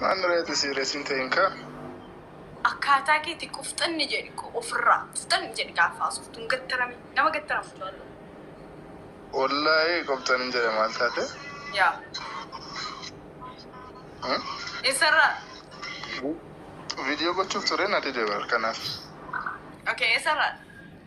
Manni reeti sii resin tein kaa. Akkaataa keeti qofxanni jedhi ofirraa qofxanni jedhi gaafa haasoftu hin gattarami nama gattaramu jaalladhu. Wollahi qofxanin jedhe maal taate. Yaa. Hmm? Eessarraa? Video gochuuf ture na dide bar kanaaf. Okay eessarraa?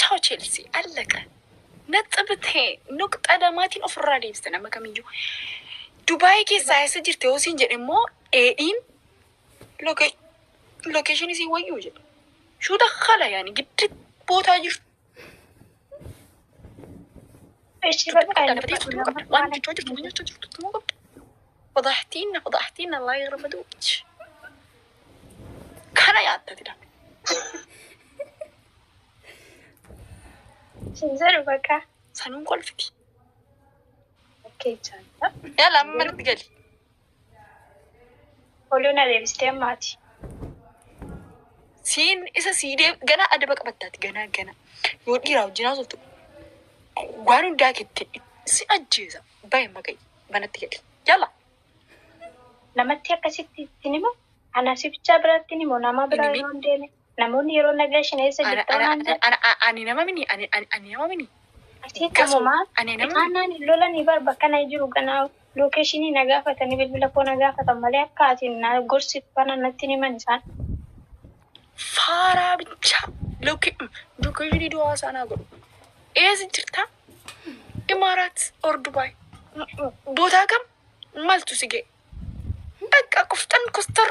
Chao Chelsea allaqa naxxib tee nuqxa lamaatiin ofirraa deebista nama kamiyyuu. Dubaayii keessaa eessa jirte yoo siin jedhe immoo dheedhiin location isii wayyuu jedhe. Shuu dakkala yaani giddi bootaa jirtu. Echi bakka Waan inni jirtu qabda. Waan jechaa jirtu waan jechaa jirtu immoo qabda. Fadaahtiinna fadaahtiinna laa irra baduu. Kana yaaddati dha. Sinzadhu baqa. Sanuun kolfiti. Bakkee jaalta. Yaala amma manatti gali. Oluu na deebistee ammaati. Siin isa sii deem ganaa adaba qabattaati ganaa ganaa. Yoo dhiiraa wajjin haasoftu waan hundaa keetti si ajjeesa. Baay'ee maqayi manatti gali. Yaala. Namatti akkasitti ittiin himu. Ana si bichaa biraatti himu nama biraa Inni mi- yoo hin deeme. Namoonni yeroo nagaa shan eessa Ana, jirta ana, waan jedhu. ana, ana, ani nama mini, ani, ani, ani nama mini. Asii Gasu, kamuma ani nama mini. itaannaan hin lolanii bar bakka na jiru ganaa lookeshinii na gaafatanii bilbila koo na gaafatan malee akka ati na gorsitu kana natti hin himan isaan. Faaraa bichaa lookee, lookeshinii duwaa isaa naa godhu. Eessa jirta? Imaaraat or Dubaay. M- m- Bootaa kam? Maltu si ga'e? Bakka qoftan kostar.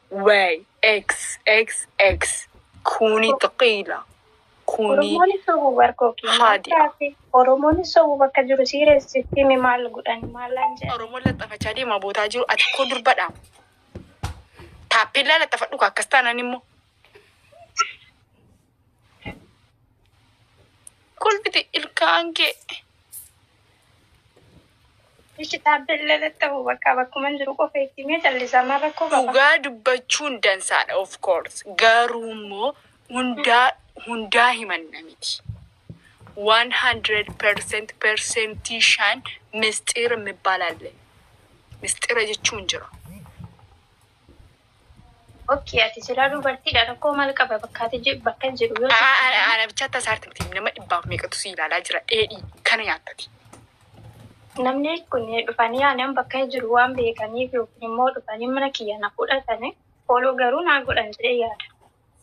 Way X X X kuuni xiqiila kuuni Oromooni sobu bar koki maal Haadi'a. taate Oromooni sobu bakka jiru siire sitti himi maal godhan maalaan jedhan Oromoon laxxafachaa deemaa bootaa jiru ati koo durbadha taappellaa laxxafadhu ka akkas taanaan immoo kolfiti ilkaan kee Ishi dhaabbillee tatta'u bakka bakkuman jiru qofa itti himee callisaa maal rakkoo qaba. Dhugaa dubbachuun dansaadha of course garuummoo hundaa hundaa himanna miti 100% persentii shan misxiir mibbal alle misxira jechuun jira. Okkii ati silaa dubartiidha rakkoo maal qaba bakka ati je- bakka hin jedhu yoo Aa, jette Ana ana bicha tasa artimti nama dhibbaaf meeqatu si ilaalaa jira dheedhii kana nyaattati. namni kun dhufanii aanan bakka hin jiru waan beekaniif yookiin immoo dhufanii mana kiyya na fudhatanii fooloo garuu naa godhan jedhee yaada.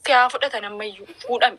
Si haa fudhatan ammayyuu fuudhami.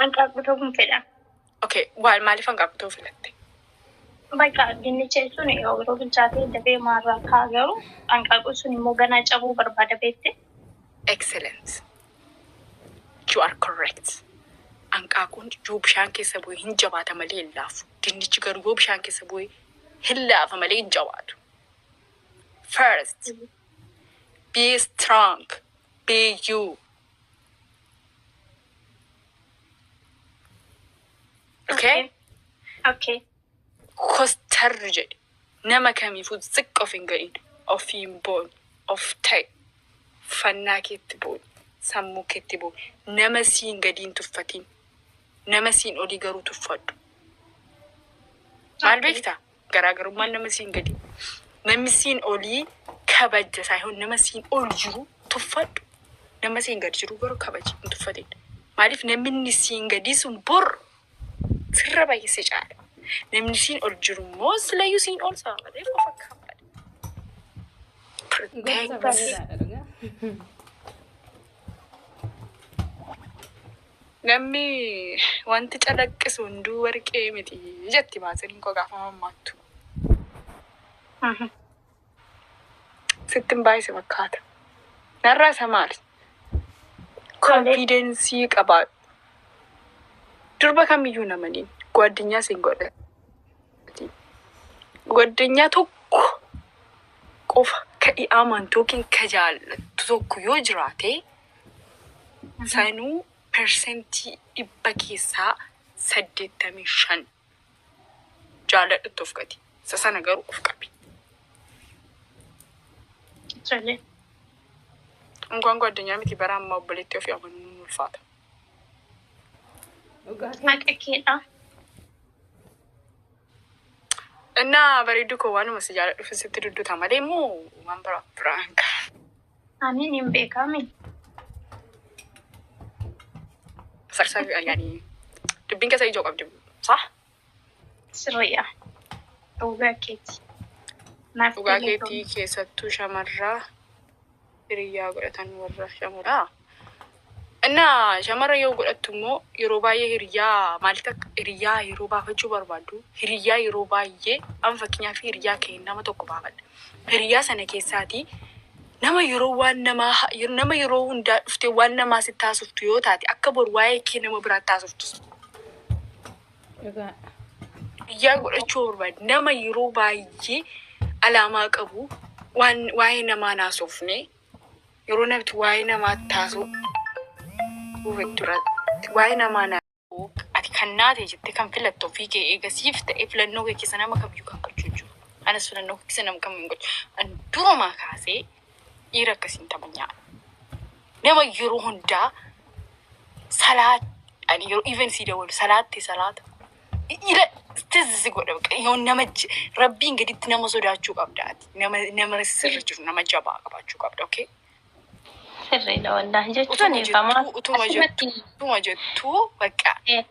Hanqaaquu ta'uun fedha. Okay, why maaliif hanqaaquu ta'uu filatte? Bakka dinnicha jechuun yeroo bilchaatee dafee maarraa ka'a garuu hanqaaquun sun immoo ganaa cabuu barbaada beekte. Excellent. You are correct. Hanqaaquun yoo bishaan keessa bu'e hin jabaata malee hin laafu. Dinnichi garuu yoo bishaan keessa bu'e hin laafa malee hin jabaatu. First, be strong. Beeyyuu. Okay? Okay. Kostarri jedhe nama kamiifuu xiqqo of hin ga'in ofiin boon of ta'e fannaa keetti boon sammuu keetti boon nama siin gadiin tuffatiin nama siin olii garuu tuffadhu maal beektaa Garaagarummaan nama siin gadii, namni siin olii kabajja saayihoon nama siin ol jiru tuffadhu. Nama siin gad jiru garuu kabaji hin tuffatin. Maaliif namni inni siin gadii sun bor sirra baay'ee si caala. Namni siin ol jiru immoo silayyuu siin ol saba malee of akka hammadha. Protect. Bareedaadha dhugaa. Namni wanti calaqqisu hunduu warqee miti jetti Maatsiniin koo gaafa mammaaktu. Sittin baay'ise fakkaata. Narraa isa maali? Konfiidensii qabaadhu. Durba kamiyyuu namaniin gwaddinyaa siin godha. Gwaddinyaa tokko qofa ka i amantu yookiin ka jaallattu tokko yoo jiraate Sanuu persentii dhibba keessaa saddeettamii shan jaaladhutti of gati. Isa sana garuu of qabi. Tole. Unkaan koo addunyaa miti bara ammaa obboleettii ofii amanuun ni ulfaata. Dhugaa kee. Haqa keedha. Innaa bareedduu koo waanuma si jaaladhuuf sitti dudduta malee immoo waan biraa biraa hin qabu. Ani nin beekami. Sarsaa fi ayyaanii. Dubbiin keessa ijoo qabdi. Sah? Sirriidha. Dhugaa keeti. Naaf Dhugaa galee keetii keessattuu shamarraa hiriyyaa godhatan warra shamuudhaa. Innaa shamarra yoo godhattu immoo yeroo baay'ee hiriyyaa maalitti akka hiriyyaa yeroo baafachuu barbaaddu hiriyyaa yeroo baay'ee an fakkeenyaaf hiriyyaa kee nama tokko baafadha. Hiriyyaa sana keessaatii nama yeroo waan namaa ha- yer- nama yeroo hundaa dhuftee waan namaa sitti haasoftu yoo taate akka bor waa'ee kee nama biraatti haasoftu Dhugaa. biyyaa godhachuu barbaade nama yeroo baay'ee alaamaa qabu waan waa'ee namaa hin haasofne Yeroo namti waa'ee namaa taasuu duratti waa'ee namaa na ati kan naate jette kan filatte ofii kee eega siif ta'e filannoo kee keessa nama kamiyyuu kan gochuu hin jiru. Anas filannoo kee keessa nama kam hin gochu. An durumaa kaasee dhiira akkasiin taphachaa nama yeroo hundaa salaa ani yeroo even sii dawalu salaatte salaata Ira tizzi si godha bakka yoo nama j- rabbiin gaditti nama sodaachuu qabda ati nama nama sirri jiru nama jabaa qabaachuu qabda okay Sirriidha wallaahi utuma jechuun eegamaa. jettuu utuma jettuu Asirratti utuma jettuu bakka eh,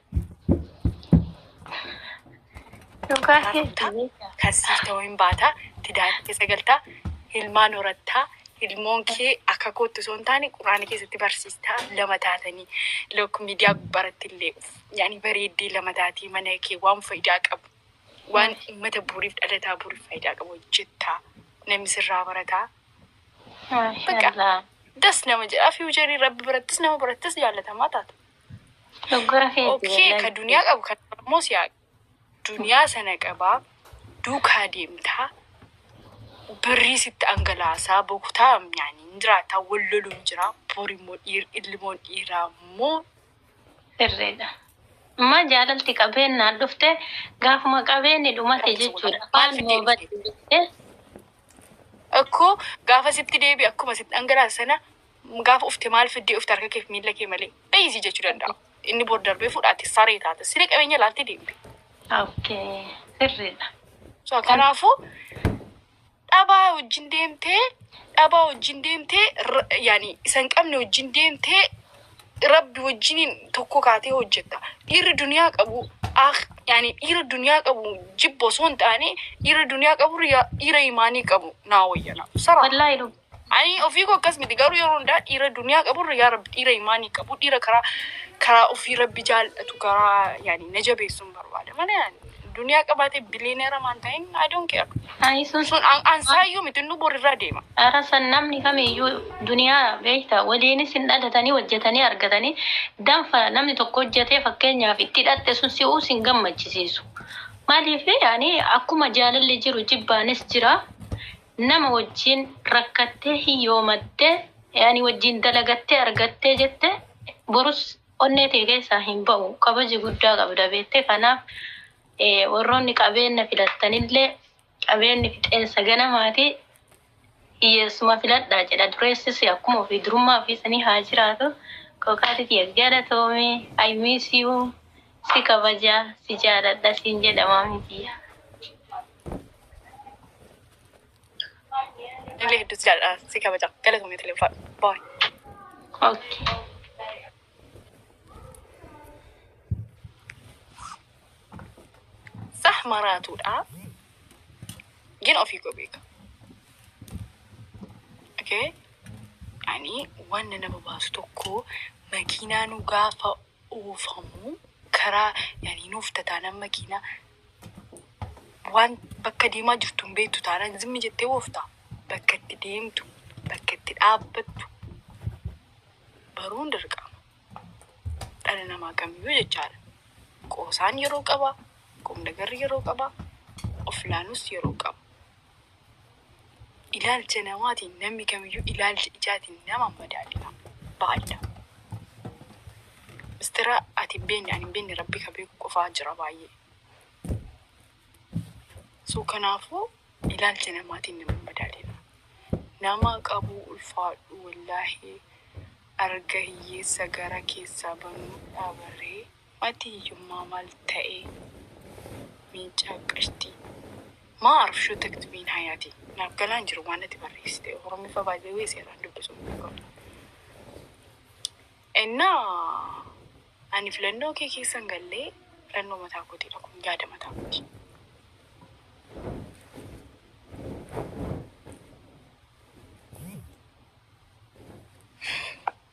dhugaa Kanaaf hedduu taa- beekaa. kan siif ta'u hin baata tidaara keessa galtaa ilmaan horattaa ilmoon kee akka kootti osoo hin taane quraana keessatti barsiistaa lama taatanii lok miidiyaa gubbaratti illee Yaani bareeddee lama taatee mana kee waan faayidaa qabu waan Maali? uummata buuriif dhalataa buuriif faayidaa qabu hojjettaa namni sirraa barataa Maashaallah. das nama jedhaa fiiwucharii rabbi birattis nama birattis jaallatamaa taata. Doggora keeti. Okkee wallahi. ka duniyaa qabu kan immoo siyaa duniyaa sana qabaa duukaa deemtaa birrii sitti angalaasaa bokutaa yaani hin jiraataa wal loluun jiraa boor immoo dhiir ilmoon dhiiraa immoo Sirriidha. Amma jaalalti qabeennaan dhufte gaafuma qabeenni dhumate jechuudha. Maal moo badde jettee. Akkoo gaafa sitti deebi akkuma sitti dhangalaase sana gaafa ufte maal fiddee ufte harka keef miila kee malee bayi si jechuu danda'a. Inni bor darbee fudhaate saree taate siree qabeenya laaltee deemte. Okay. Sirriidha. So kanaafuu dhabaa wajjin deemtee dhabaa wajjin deemtee r- yaani isa hin qabne wajjin deemtee rabbi wajjiniin tokko kaatee hojjetta dhiirri duniyaa qabu ah yaani dhiira duniyaa qabu jibba osoo hin taane dhiira duniyaa qabu yaa- dhiira imaanii qabu naa wayya naa saraa Wallaahi dhuga. ani ofii koo akkas miti garuu yeroo hundaa dhiira duniyaa qabu irra yaa rabbi dhiira imaanii qabu dhiira karaa karaa ofii rabbi jaallatu karaa yaani na jabeessuun barbaada malee ani Duniyaa qabaatee billionaire amaan ta'in I don't care. Ani sun Sun an- ansaayyuu miti nu borirraa deema. Ara san namni kamiyyuu duniyaa beekta waliinis hin dhalatanii hojjetanii argatanii danfa namni tokko hojjetee fakkeenyaaf itti dhatte sun si'uu sin gammachisiisu. Maaliif ani akkuma jaalalli jiru jibbaanis jira nama wajjin rakkattee hiyyoomattee ani wajjin dalagattee argattee jette borus Onnee tee keessaa hin bahu. Kabaja guddaa qabda beettee kanaaf warroonni qabeenna filattanillee qabeenni fixeensa ganamaati hiyyeessuma filadhaa jedha dureessisi akkuma ofii durummaa ofii sanii haa jiraatu kookaati tiyya galatoomi I miss you si kabaja si jaaladha siin jedha maamii tiyya. Illee hedduutti jaalladha. Si kabaja. Galatoomii Tilee Ulfaadhu. Baay. Okay. Sah maraatuudha. Gin ofii koo beeka. Okay. Ani waan na nama baasu tokko makiinaa nu gaafa oofamuu karaa yani hin oofta taanan makiinaa waan bakka deemaa jirtu hin beektu taanan zimmi jettee oofta bakka itti deemtu bakka itti dhaabbattu baruun dirqama dhala namaa kamiyyuu jechaadha. Qoosaan yeroo qaba, qomdagarri yeroo qaba, of ilaaluus yeroo qaba. Ilaalcha namaatiin namni kamiyyuu ilaalcha ijaatiin nama madaala. Baay'eedha. Mistira ati hin beekne ani hin beekne rabbi ka beeku qofaa jira baay'ee. So kanaafuu ilaalcha namaatiin nama madaala. Nama qabu ulfaadhu wallaahi arga hiyyeessa gara keessaa banuu dhabaree. Mati hiyyummaa mal ta'ee miincaa qashtii. Maa arfshuu taktumiin hayati naaf galaa hin jiru waan ati barreessite oromiffa by the way seeraan dubbisuun dirqama ennaa ani filannoo kee keessa hin gallee filannoo mataa kootiidha kun yaada mataa kooti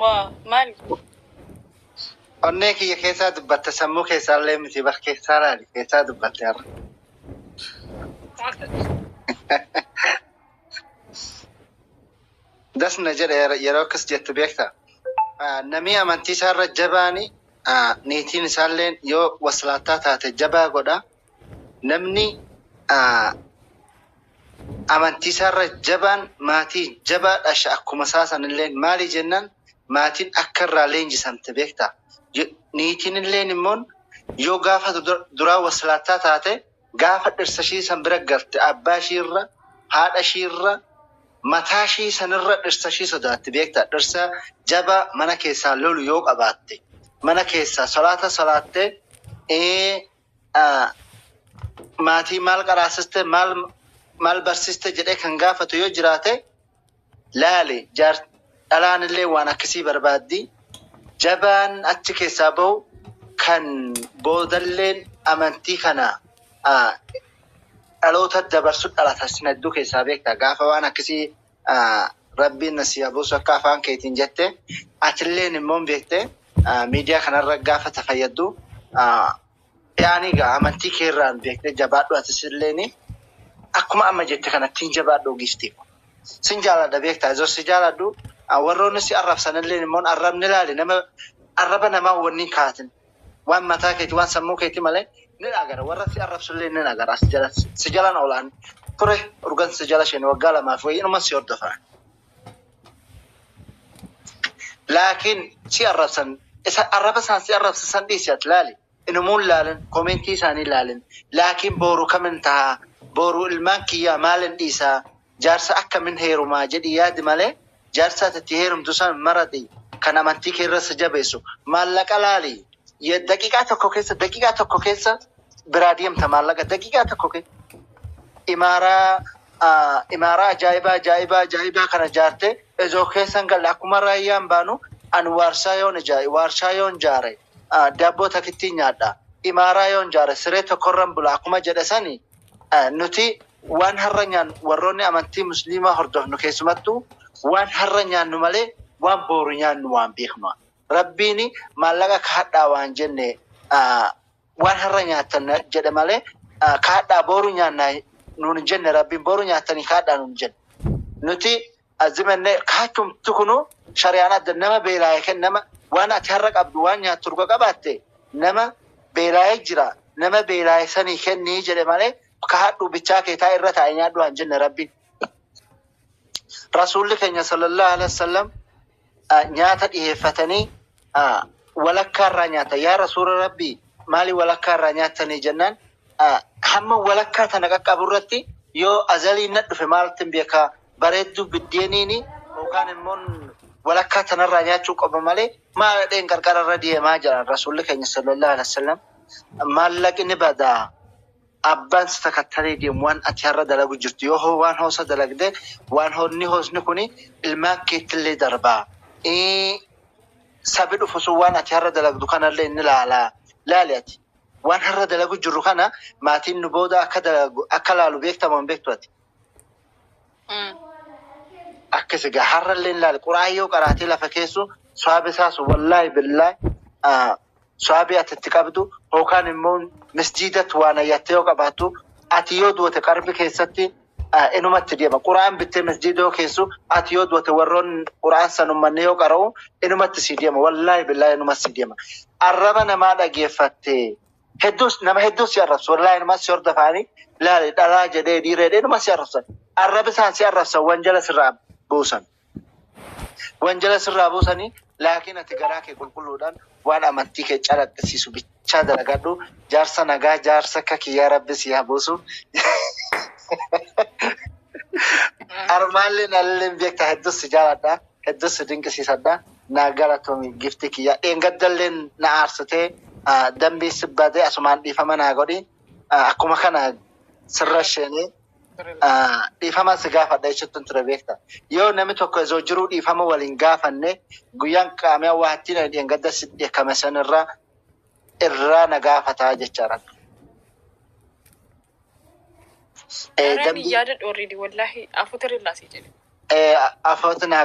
Waa maal onnee kiyya keessaa dubbatte sammuu keessaa illee miti bar keessaa laali keessaa dubbatte har'a. Das na jedhe yeroo- yeroo akkas jettu beekta. Ah, Namni amantii isaarra jabaani ah, niitiin isaallee yoo waslaattaa taate jabaa godha. Namni amantii isaarra jabaan maatii jabaa dhasha akkuma isaa sanilleen maali jennaan maatiin akka irraa leenjisamte beekta. Niitiin illeen immoo yoo gaafa duraa waslaattaa taate gaafa dhirsa ishii san bira galte abbaa ishii irra haadha ishii irra mataa ishii sanirra dhirsa ishii sodaatti beekta. Dhirsa jabaa mana keessaa lolu yoo qabaatte mana keessaa salaata salaattee ah, maatii maal qaraasiste maal maal barsiiste jedhee kan gaafatu yoo jiraate laali jaar dhalaan illee waan akkasii barbaaddi jabaan achi keessaa bahu kan boodalleen amantii kana ah, dhaloota dabarsu dhalata sin hedduu keessaa beekta gaafa waan akkasii Rabbiin na sii haa buusu akka afaan keetiin jette atilleen immoo hin beekte miidiyaa kanarra gaafa tafayyaddu yaani egaa amantii kee irraan beekte jabaadhu atis illeen akkuma amma jette kanattiin jabaadhu giiftii ko. Sin jaaladha beektaa izo si jaaladhu warroonni si arrabsan illeen immoo arrabni ilaali nama arraba namaa wanni hin kaatin. Waan mataa keeti waan sammuu keeti male nin agara warra si arrabsu illee nin agara asi jala si jalan ola an ture urgan si jala shene waggaa lamaa fi wayii inuman si hordofa laakiin si arrabsan isa arraba isaan si arrabsa san dhiisi ati laali inumuun laalin komentii isaanii laalin laakiin booru kamin tahaa booru ilmaan kiyyaa maalin dhiisaa Jaarsa akkamin heerumaa jedhii yaadi malee jaarsa ati itti heerumtu san marati kan amantii kee irra si jabeessu maallaqa laali daqiqaa tokko keessa daqiqaa tokko keessa biraa deemta maallaqa daqiqaa tokko keessa imaaraa imaaraa ajaa'ibaa ajaa'ibaa ajaa'ibaa kana jaarte ezoo keessan galle akkuma raayyaan baanu ani waarshaa yoon ijaare waarshaa yoon jaare daabboo takittii nyaadha imaaraa yoon jaare siree tokkorran bula akkuma jedhe sani nuti Waan har'a nyaannu warroonni amantii musliimaa hordofnu keessumattuu waan har'a nyaannu malee waan booru nyaannu waan beeknua. Rabbiin maallaqa kahadhaa waan jenne waan har'a nyaattan jedhe malee kahadhaa booru nyaanna nuun hin jenne Rabbiin booru nyaattanii kahadhaa nuun hin jenne. Nuti azimenne kahachumti kunu shariyaan adda nama beelaaye ken nama waan ati har'a qabdu waan nyaattu dhuga qabaatte nama beelaaye jira nama beelaaye sanii kennii jedhe malee kaadhu bichaa kee taa irra taa'e nyaadhu haan jenne rabbi rasuulli keenya sallallahu alaihi wasallam nyaata dhiheeffatanii walakkaa irraa nyaata yaa rasuula rabbi maali walakkaa irraa nyaatanii jennaan hamma walakkaa tana qaqqabu irratti yoo azalii na dhufe maaltiin beekaa bareedduu biddeeniini yookaan immoo walakkaa tanarraa nyaachuu qofa malee maal dheen qarqara irra deemaa jiran rasuulli keenya sallallahu alaihi wasallam maallaqni badaa Abbaan si takattalee deemu waan ati har'a dalagu jirtu yoo ho waan hoosa dalagde waan honni hoosni kun ilmaan keettillee darba. Ii Sabi dhufu sun waan ati har'a dalagdu kanallee ni laala. Laali ati waan har'a dalagu jirru kana maatiin nu booda akka dalagu akka laalu beekta moo hin beektu ati? Akkas egaa har'allee laali qura'aan yoo qaraatee lafa keessu swaaba isaa sun wallaahi billaahi sawaabii ati itti qabdu yookaan immoo misjiidatti waa nayyattee yoo qabaattu ati yoo duute qarbi keessatti ah, inumatti deema. Quraan bittee misjiida yoo keessu ati yoo duute warroon quraan san ummanni yoo qara'u inumatti sii deema. Wallaahi billaahi inumatti sii deema. Arraba namaa dhageeffatte hedduus nama hedduus si arrabsu. Wallaahi inumatti si hordofaanii laali dhalaa jedhee dhiiree jedhee inumatti si arrabsan. Arrabi isaan si arrabsan wanjala sirraa buusan. Wanjala sirraa buusanii laakiin ati garaa kee qulqulluudhaan waan amantii kee calaqqisiisu bichaa dalagadhu jaarsa nagaa jaarsa akka kiyyaa rabbi sii haa buusu armaalleen alleen beekta hedduu si jaaladha hedduu si dinqisiisadha naa galatoomi giftii kiyyaa dheengaddalleen na aarsitee dambii si badee asumaan dhiifama naa godhi akkuma kana sirra isheenee dhiifama si gaafadha jechuuttan ture beekta. Yoo namni tokko osoo jiruu dhiifama wal hin gaafanne guyyaan qaamiyaa waa ittiin ani dheengadda si dheekkame san irraa irraa na gaafataa jechaadha. Eh, Dareen dambii- yaada dhoorriidi wallaahi afuutirri laasii jedhe. eh, afoota naa